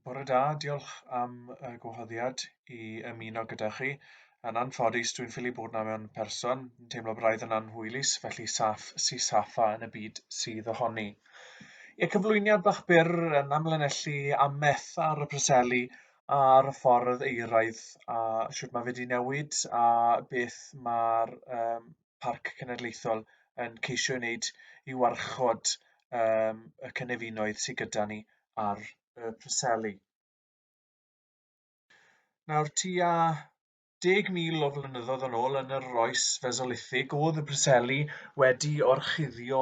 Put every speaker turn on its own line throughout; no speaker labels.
Bore da, diolch am y gwahoddiad i ymuno gyda chi. Yn anffodus, dwi'n ffili bod na mewn person, yn teimlo braidd yn anhwylus, felly saff si saffa yn y byd sydd ohoni. Ie, cyflwyniad bach byr yn amlinellu ameth ar y preseli a'r ffordd eiraidd a siwt mae wedi newid a beth mae'r um, Parc Cenedlaethol yn ceisio ei wneud i warchod um, y cynefinoedd sydd gyda ni ar y Preseli. Nawr, tua 10,000 o flynyddoedd yn ôl yn yr oes fesolithig, oedd y Preseli wedi orchuddio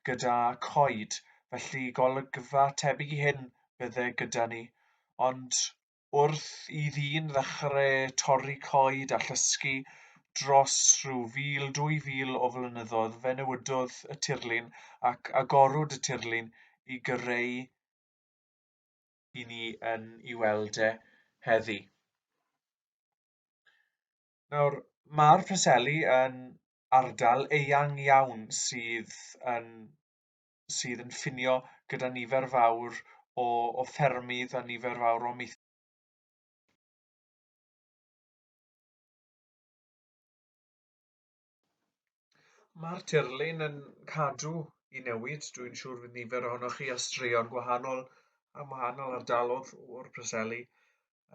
gyda coed, felly golygfa tebyg i hyn bydde gyda ni. Ond wrth i ddyn ddechrau torri coed a llosgi dros rhyw fil, dwy fil o flynyddoedd, fe newidodd y tirlun ac agorwyd y tirlun i gyrreu i ni yn i weld e heddi. Nawr, mae'r Preseli yn ardal eang iawn sydd yn sydd yn ffinio gyda nifer fawr o, o ffermydd a nifer fawr o amaethyddion Mae'r tirlun yn cadw i newid. Dwi'n siŵr fydd nifer ohonoch chi a straeon gwahanol am wahanol ardalodd o'r Preseli.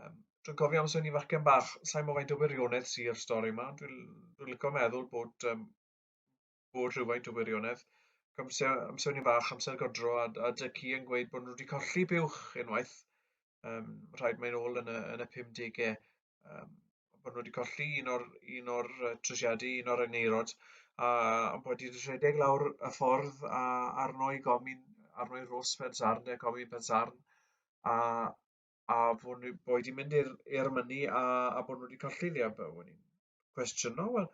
Um, dwi'n cofio amser ni fachgen bach, sa'n mo faint o wirionedd sy'r stori yma, dwi'n dwi licio meddwl bod um, bod rhywfaint o wirionedd. Amser, amser ni fach, amser godro, a, a dy ci yn gweud bod nhw wedi colli buwch unwaith, um, rhaid mae'n ôl yn y, yn y 50au, um, bod nhw wedi colli un o'r, un o'r trwysiadu, un o'r engeirod, a, a bod wedi rhedeg lawr y ffordd a, arno i gomin, arno i ros pensarn, neu gomin pensarn, a, a bod nhw wedi mynd i'r mynnu a, a bod nhw wedi colli ddi, a bod nhw'n cwestiynol wel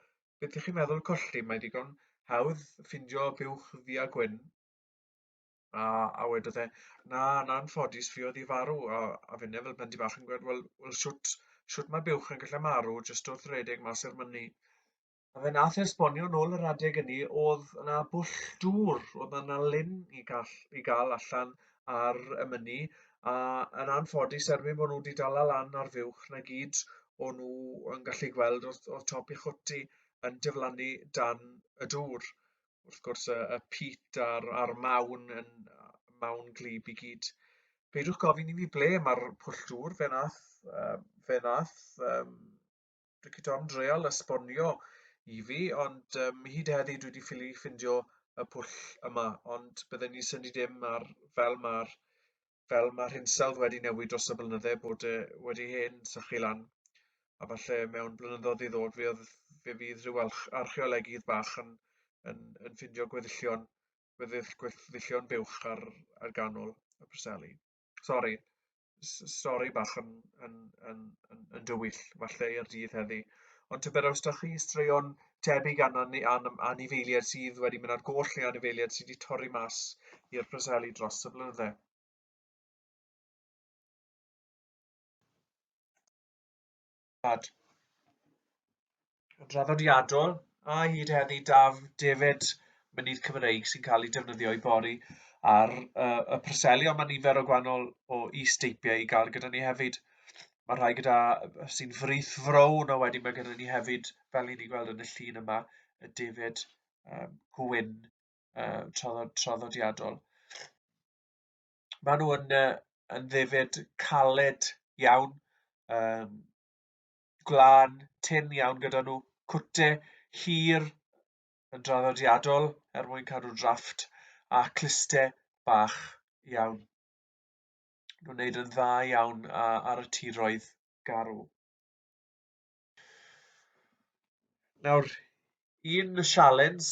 beth ych chi'n meddwl colli mae digon hawdd ffindio buwch ddu a gwyn a a wedodd e na na anffodus fi oedd i farw a a finne fel blendy bach yn gweud wel wel shwt shwt mae buwch yn gallu marw jyst wrth redeg mas i'r mynni a fe nath e esbonio nôl yr adeg ynny oedd yna bwll dŵr oedd yna lyn i gall i gael allan ar y mynni a yn anffodus erbyn bod nhw wedi dala lan ar fuwch 'na gyd o' nhw yn gallu gweld o'dd o'dd top ei chwt yn diflannu dan y dŵr. Wrth gwrs y y pît a'r a'r mawn yn yy mawn gwlyb i gyd. Peidiwch gofyn i mi ble ma'r pwll dŵr fe nath yy fe nath yym dwi wedi am dreol esbonio i fi, ond um, hyd heddi dwi wedi ffili ffindio y pwll yma, ond bydden ni syni dim ar fel mae'r fel mae'r hinsawdd wedi newid dros y blynydde bod e wedi hen sychu lan. A falle mewn blynyddoedd i ddod fe, oedd, fe fydd rhyw archeolegydd bach yn, yn, yn ffindio gweddillion, gweddillion buwch ar, ar ganol y Preseli. Sori, stori bach yn, yn, yn, yn, yn dywyll, falle i'r dydd heddi. Ond tybed os da chi straeon tebyg an, an, an, anifeiliad sydd wedi mynd ar goll neu anifeiliad sydd wedi torri mas i'r preseli dros y blynydde. Rad. Yn draddodiadol, a hyd heddi daf defyd mynydd Cymreig sy'n cael ei defnyddio i bori ar uh, y preseli, ond mae nifer o gwahanol o is-deipiau i gael gyda ni hefyd. Mae rhai gyda sy'n frith frown, a wedyn mae gyda ni hefyd, fel ni'n ei gweld yn y llun yma, y defyd um, gwyn uh, traddodiadol. maen nhw yn, uh, yn ddefyd caled iawn, um, glân, tin iawn gyda nhw, cwte hir yn draddodiadol er mwyn cadw drafft, a cluste bach iawn. Nhw'n wneud yn dda iawn ar y tiroedd garw. Nawr, un sialens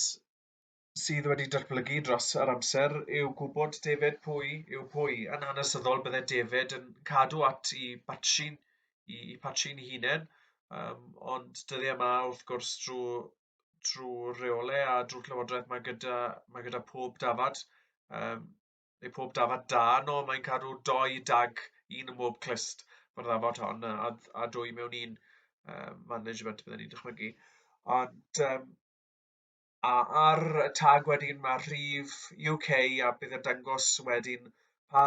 sydd wedi datblygu dros yr amser yw gwybod defed pwy yw pwy. Yn hanesyddol, bydde defed yn cadw at i batrin, i, i patrin i hunain, um, ond dyddi yma, wrth gwrs, drwy, drwy reole a drwy llywodraeth, mae gyda, mae gyda pob dafad, um, neu pob dafad da, no, mae'n cadw doi dag, un yn bob clust, mae'r ddafod hon, a, a dwy mewn un um, management, bydden ni'n dychmygu. Ond, um, a ar y tag wedyn mae rhif UK a bydd yn dangos wedyn pa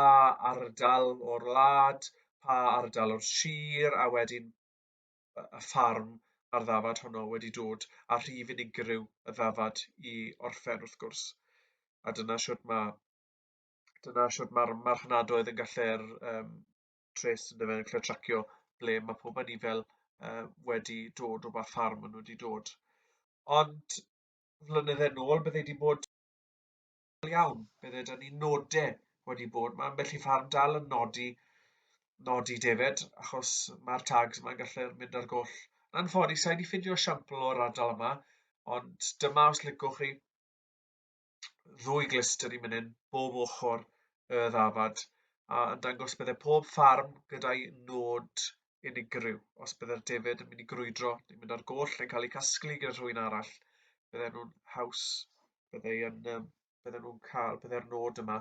ardal o'r wlad, pa ardal o'r sir a wedyn y ffarm a'r ddafad honno wedi dod a rhif unigryw y ddafad i orffen wrth gwrs. A dyna siwt mae dyna siwt mae'r marchnadoedd yn gallu'r um, tres yn dyfe yn cael tracio ble mae pob yn i fel uh, wedi dod o ba ffarm maen nhw wedi dod. Ond flynydde nôl bydde wedi bod iawn, bydde da ni nodau wedi bod, mae ambell i ffarm dal yn nodi nodi defed, achos mae'r tags yma'n gallu mynd ar goll. Yn ffodus, sa'i wedi ffindio siampl o'r ardal yma, ond dyma os licwch chi, ddwy glyster i mynydd bob ochr y ddafad, a yn dangos bydde pob ffarm gyda'i nod unigryw. Os bydde'r defaid yn mynd i grwydro yn mynd ar goll yn cael eu casglu gyda rhywun arall, bydde nhw'n haws, bydde yn, um, bydde nhw'n cael, bydde'r nod yma,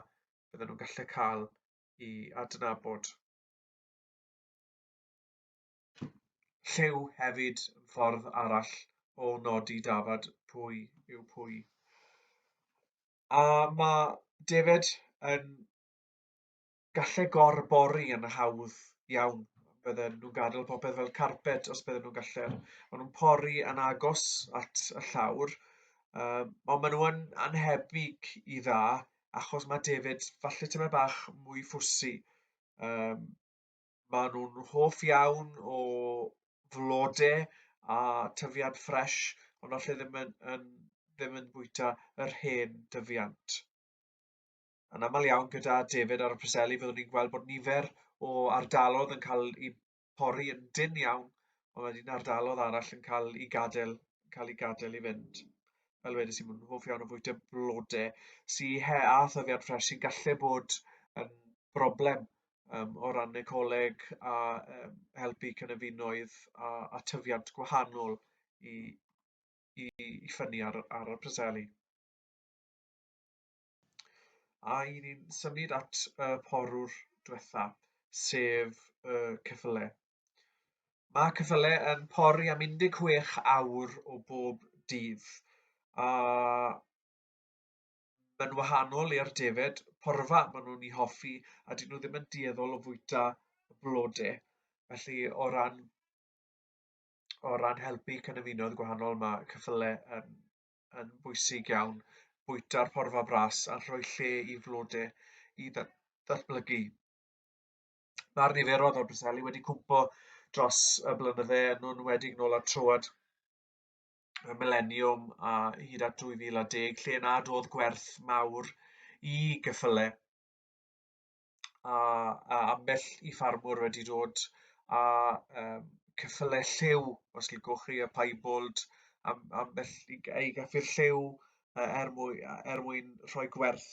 bydde nhw'n gallu cael i adnabod. Lliw hefyd yn ffordd arall o nodi dafad pwy yw pwy. A mae David yn gallu gorbori yn hawdd iawn. Bydden nhw'n gadael popeth fel carpet os bydden nhw'n gallu. Maen nhw'n pori yn agos at y llawr, um, ond maen nhw'n anhebyg i dda, achos mae David falle tyma bach mwy ffwsi. Um, maen nhw'n hoff iawn o flodau a tyfiant ffres, ond allai ddim yn, yn, ddim yn bwyta yr hen dyfiant. Yn aml iawn gyda David ar y Preseli, byddwn ni'n gweld bod nifer o ardalodd yn cael eu pori yn dyn iawn, ond wedyn ardalodd arall yn cael eu gadael, cael eu gadael i fynd. Fel wedys i, mae'n hoff iawn o fwyta blodau sy'n he a thyfiant ffres sy'n gallu bod yn broblem um, o ran ecoleg a um, helpu cynefinoedd a, a tyfiant gwahanol i, i, i ffynnu ar, ar y preseli. A i ni'n symud at y uh, porwr diwetha, sef y uh, cyffyle. Mae cyffyle yn pori am 16 awr o bob dydd, a Mae'n wahanol i'r defaid porfa maen nhw'n ei hoffi a dyn nhw ddim yn dueddol o fwyta y blode. Felly o ran o ran helpu cynefinoedd gwahanol mae cyffyle yn, yn bwysig iawn. Bwyta'r porfa bras a rhoi lle i flode i ddatblygu. Mae'r niferoedd o'r briseli wedi cwmpo dros y blynydde yn nhw'n wedi nôl at troad y mileniwm a hyd at 2010 lle na doedd gwerth mawr i gyffyle a, a ambell i ffarmwr wedi dod a um, cyffyle lliw os ligwch chi y piebald am, ambell i, i gaffi'r lliw uh, er, mwy, er mwyn rhoi gwerth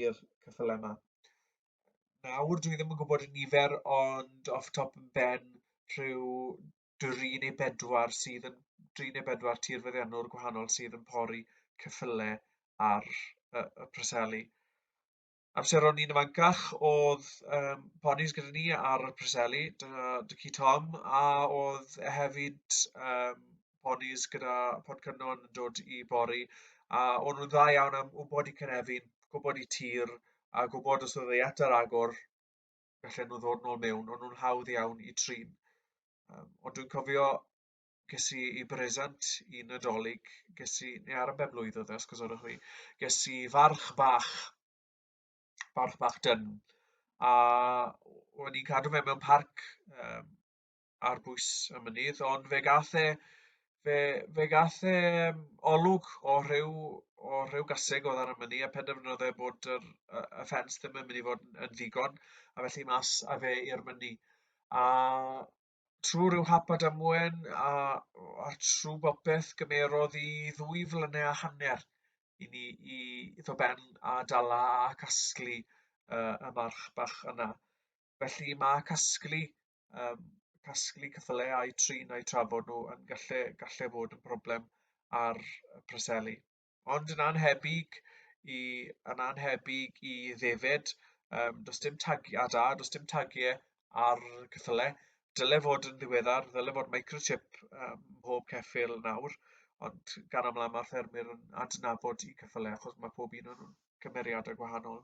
i'r cyffyle yma. Nawr dwi ddim yn gwybod y nifer ond off top yn ben rhyw dri neu bedwar sydd yn dri neu bedwar tir feddiannwr gwahanol sydd yn pori cyffyle ar y, y preseli. Amseron ni'n ymancach oedd um, ponis gyda ni ar y preseli, Dycu Tom, a oedd e hefyd um, ponis gyda Pod Cynnon yn dod i bori, a o'n nhw'n dda iawn am wybod i Cynefin, gwybod i tir, a gwybod os oedd ei eto agor, gallen nhw ddod nôl mewn, ond nhw'n hawdd iawn i trin. Um, ond dwi'n cofio ges i i bresant i Nadolig, ges i, neu ar y ben blwydd oedd e, os gosodwch fi, ges i farch bach, farch bach dyn, a o'n i'n cadw fe mewn parc, um, ar bwys y mynydd, ond fe gath e, fe, fe gath e um, olwg o rhyw, o rhyw gaseg oedd ar y mynydd a penderfynodd e bod yr, y, y ffens ddim yn mynd i fod yn, yn ddigon a felly mas a fe i'r mynydd. A trwy rhyw hap a damwen a, a trwy bopeth gymerodd i ddwy flynau a hanner i ni i iddo ben a dala a casglu uh, y march bach yna. Felly mae casglu um, casglu cyffyle a'i trin a'i trafod nhw yn gallu, gallu fod yn broblem ar y preseli. Ond yn anhebyg i, yn anhebyg i ddefyd, um, does dim tagiad a, does dim tagiau ar cyffyle. Dyle fod yn ddiweddar, dyle fod microchip um, mhob ceffil nawr, ond gan aml mae'r ffermwyr yn adnabod i cyffyle achos mae pob un o'n cymeriadau gwahanol.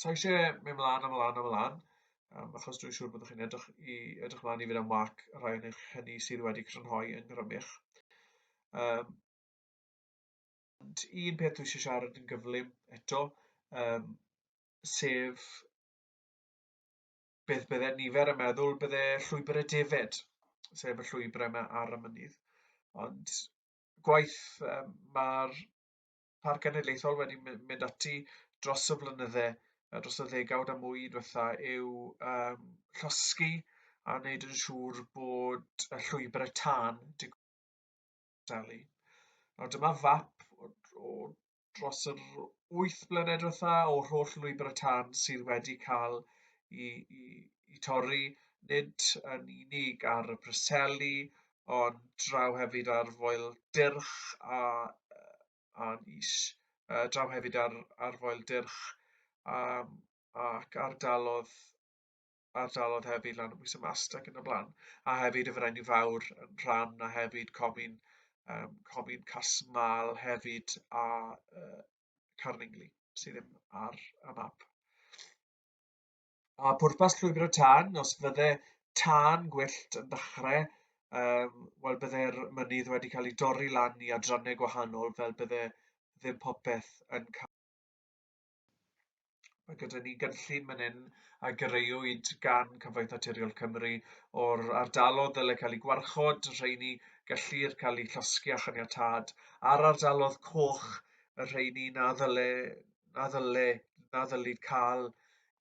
So eisiau mynd mlaen a mlaen a mlaen, um, achos dwi'n siŵr bod chi'n edrych, i, edrych mlaen i fynd am wac rhai yn eich hynny sydd wedi crynhoi yn grymych. Um, un peth dwi eisiau siarad yn gyflym eto, um, sef beth bydde nifer yn meddwl bydde llwybr y defed, sef y llwybr yma ar y mynydd. Ond gwaith um, mae'r Parc Genedlaethol wedi mynd ati dros y flynydde, dros y ddegawd a mwy diwetha, yw um, llosgi a wneud yn siŵr bod y llwybr y tân digwyddalu. Nawr dyma fap o, o dros yr 8 blynedd diwetha o'r holl lwybr y tân sydd wedi cael i, i, i torri nid yn unig ar y Preseli, o draw hefyd ar foel dyrch a, a is, uh, draw hefyd ar, ar foel dyrch a, ac ardalodd ardalodd hefyd lan y bwysau mast ac yn y blaen. A hefyd y Ferenni Fawr yn rhan, a hefyd Comin, um, Comin Casmal hefyd a uh, Carningli sydd ddim ar y map. A pwrpas llwybr y tân, os fydde tân gwyllt yn dechrau, um, wel bydde'r mynydd wedi cael ei dorri lan i adrannau gwahanol fel bydde ddim popeth yn cael. Mae gyda ni gynllun man hyn a greuwyd gan Cyfoeth Naturiol Cymru o'r ardalodd ddyle cael ei gwarchod, rheini gellir cael eu llosgi a chaniatad, a'r ardalodd coch, y rheini na ddyle, na ddyle, na ddylid cael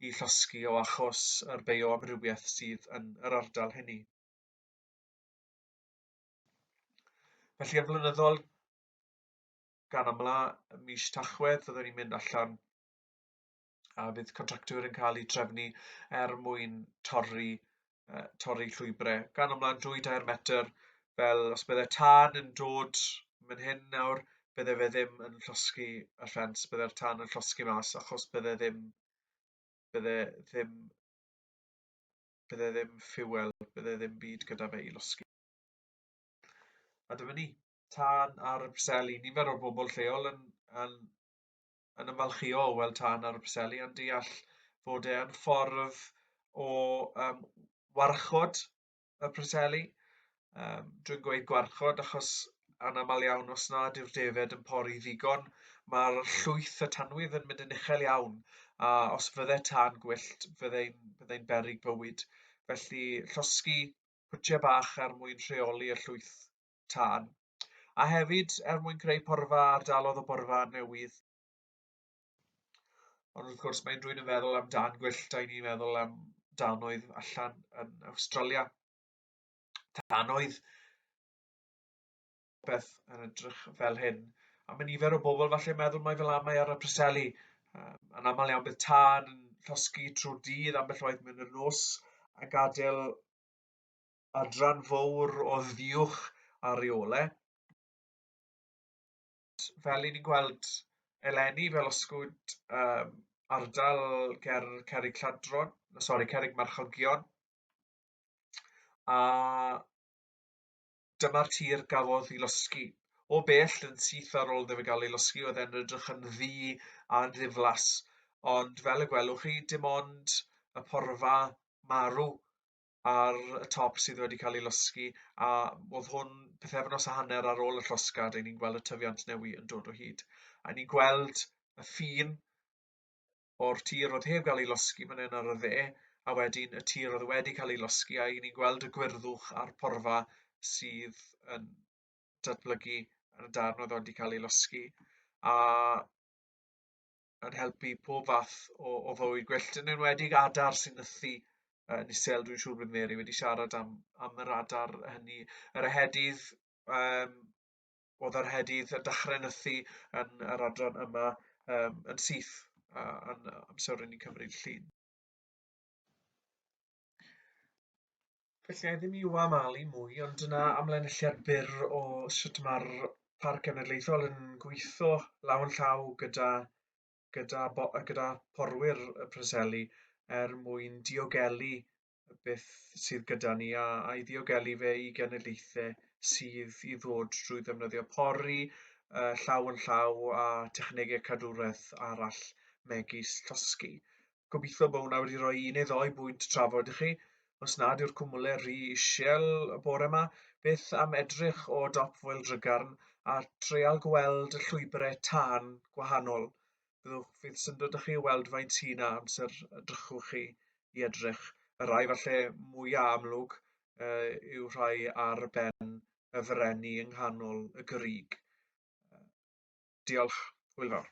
i llosgi o achos yr bioamrywiaeth sydd yn yr ardal hynny. Felly yn flynyddol, gan amla, ym mis Tachwedd, fyddwn ni'n mynd allan a bydd contractwyr yn cael eu trefnu er mwyn torri uh, torri llwybrau gan ymlaen drwy dair metr, fel os bydde tân yn dod mynd hyn nawr, bydde fe ddim yn llosgi y ffens, bydde'r tân yn llosgi mas, achos bydde ddim, bydde ddim, bydde ddim ffuel, bydde ddim byd gyda fe i losgi. A dyma ni, tân ar y preseli, nifer o bobl lleol yn, yn yn ymfalchïo o weld tân ar y Preseli, yn deall fod e yn ffordd o um, warchod y Preseli, um, dwi'n gweud gwarchod achos anaml iawn os nad yw'r defed yn pori ddigon, mae'r llwyth y tanwydd yn mynd yn uchel iawn, a os fydde tan gwyllt, fyddai'n fydde berig bywyd. Felly, llosgi pwtiau bach er mwyn rheoli y llwyth tân, a hefyd er mwyn creu porfa ardalodd o borfa newydd. Ond wrth gwrs, mae'n rwy'n yn feddwl am dan gwyllt, da ni'n meddwl am danoedd allan yn Australia. Danoedd beth yn edrych fel hyn. A mae nifer o bobl falle meddwl mai fel amau ar y preseli. Um, yn aml iawn bydd tân yn llosgi trwy'r dydd ambell waith mewn yr nos a gadael adran fowr o ddiwch ar reole. Fel i ni'n gweld eleni, fel osgwyd um, ardal ger Cerig Lladron, sori, Cerig Marchogion, a dyma'r tir gafodd i losgi. O bell yn syth ar ôl iddo gael ei losgi, oedd e'n edrych yn ddi a ddiflas, ond fel y gwelwch chi, dim ond y porfa marw ar y top sydd wedi cael ei losgi, a oedd hwn pethefnos a hanner ar ôl y llosgad, ein ni'n gweld y tyfiant newi yn dod o hyd. A ni'n gweld y ffin o'r tir oedd heb gael ei losgi fan hyn ar y dde, a wedyn y tir oedd wedi cael ei losgi, a ni'n gweld y gwyrddwch a'r porfa sydd yn datblygu yn y darn oedd wedi cael ei losgi. A yn helpu pob fath o, o fywyd gwyllt, yn enwedig adar sy'n nythu yn isel. Dwi'n siŵr bod Mary wedi siarad am, am yr adar hynny. Yr ehedydd, um, oedd yr ehedydd yn dechrau nythu yn yr adran yma um, yn syth uh, yn amser rydyn ni'n cymryd llun. Felly, a i ddim i wamalu mwy, ond dyna amlinelliad byr o sut mae'r Parc Genedlaethol yn gweithio law yn llaw gyda, gyda, gyda porwyr y Preseli er mwyn diogelu beth sydd gyda ni a, a i ddiogelu fe i genedlaethau sydd i ddod drwy ddefnyddio pori uh, llaw yn llaw a technegau cadwraeth arall megis llosgi. Gobeithio bod hwnna wedi rhoi un neu ddoi bwynt trafod i chi. Os nad yw'r cwmwle rhy isiel y bore yma, beth am edrych o dop foel drygarn a treial gweld y llwybrau tân gwahanol. Byddwch fydd syndod â chi o weld faint sy'n na amser y drychwch chi i edrych. Y rhai falle mwyaf amlwg uh, yw rhai ar ben y frenni yng nghanol y gyrrig. Diolch, hwyl fawr.